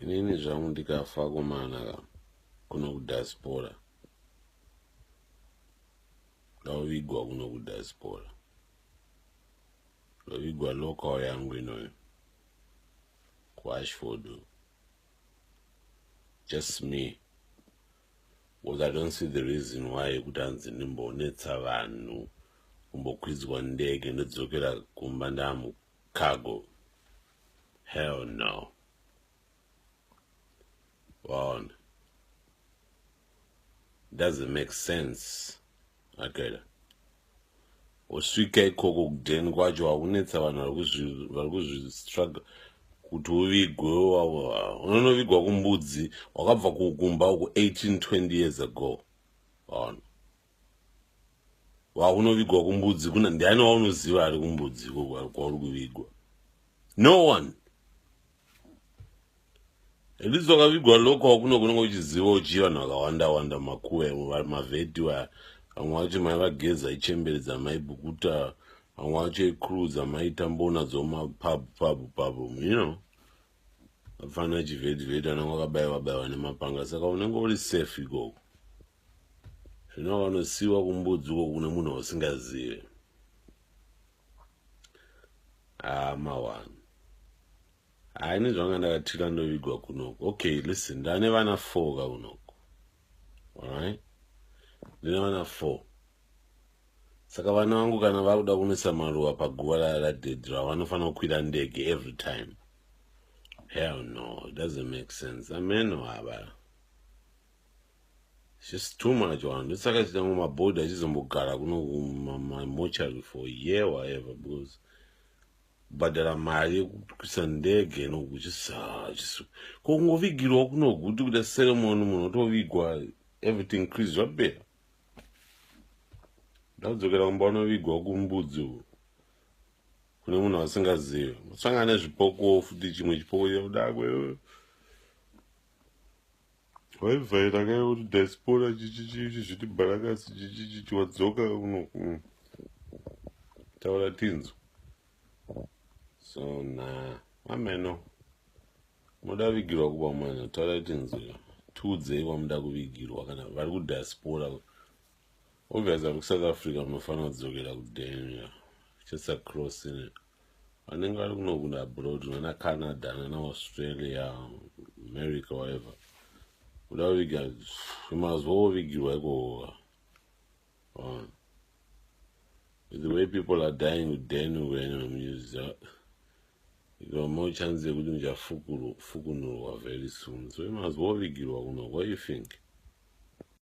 inini zvangu ndikafa komana ka kuno kudaspora ndavigwa kuno kudaspora ndavigwa local yangu inoyo kuashford just me because i don't see the reason why yekuti hanzi ndimbonetsa vanhu kumbokwidzwa ndege ndodzokera kumba ndamuka Kagu. Hell no. Waona. Doesn't make sense. Akela. Usvika ikoko kudheni kwacho wakunetsa vanhu vari kuzvistruggle kuti uvigwe unonovigwa kumbudzi wakabva kukumba uku 18 20 years ago. Waona. wakunovigwa kumbudzi kuna ndiani waunoziva ari kumbudzi kwauri kuvigwa no one handisi wakavigwa loko wakuno kunenge uchiziva uchii vanhu vakawanda wanda makuwe mavheti vaya vamwe vacho mai vageza ichembere dzamai bukuta vamwe vacho icruz amai tambona dzomapub pub pub you know apana chivhedhivhedhi anenge akabaiwa baiwa nemapanga saka unenge uri safe ikoko zvino vanosiyiwa kumbudzi uko kune munhu ausingazive amawani ah, haa ini zvanga ndakatira ndovigwa kunoko okay listen ndane vana four ka kunoko alright ndine vana four Saka vana vangu kana vakuda kunoisa maruva paguva raya radhedhi ravo vanofanira kukwira ndege every time. Hell no, it doesn't make sense. Amen waba. It's just too much one. It's like it's my body. I just don't get it. My, my mortuary for a year or whatever because but there are my Sunday you know, just uh, just Congo Vigil, no good to the ceremony, no to Vigua, everything Chris Rabbe. ndadzokera kumba unovigwa kumbudzi uku kune munhu asingazive usangana nezvipoko futi chimwe chipoko chakudakwe waivhaira kae kuti diaspora chichichichi zviti bharakasi chichichichi wadzoka uno mm. taura tinzwa so na ameno Moda vigirwa kuba mwana tarai tinzwe tiudzei kwamuda kuvigirwa kana vari kudiaspora obvious vari kusouth africa munofanira kudzokera kudenia just across in vanenge vari kunokunda abroad nana canada nana australia america whatever kuda kuviga mazuva ovigirwa ikooa on the way people are dying with daniel wena mamunyuza ikama uchanzi yekuti muchafukunurwa very soon so imazwa ovigirwa kuno what you think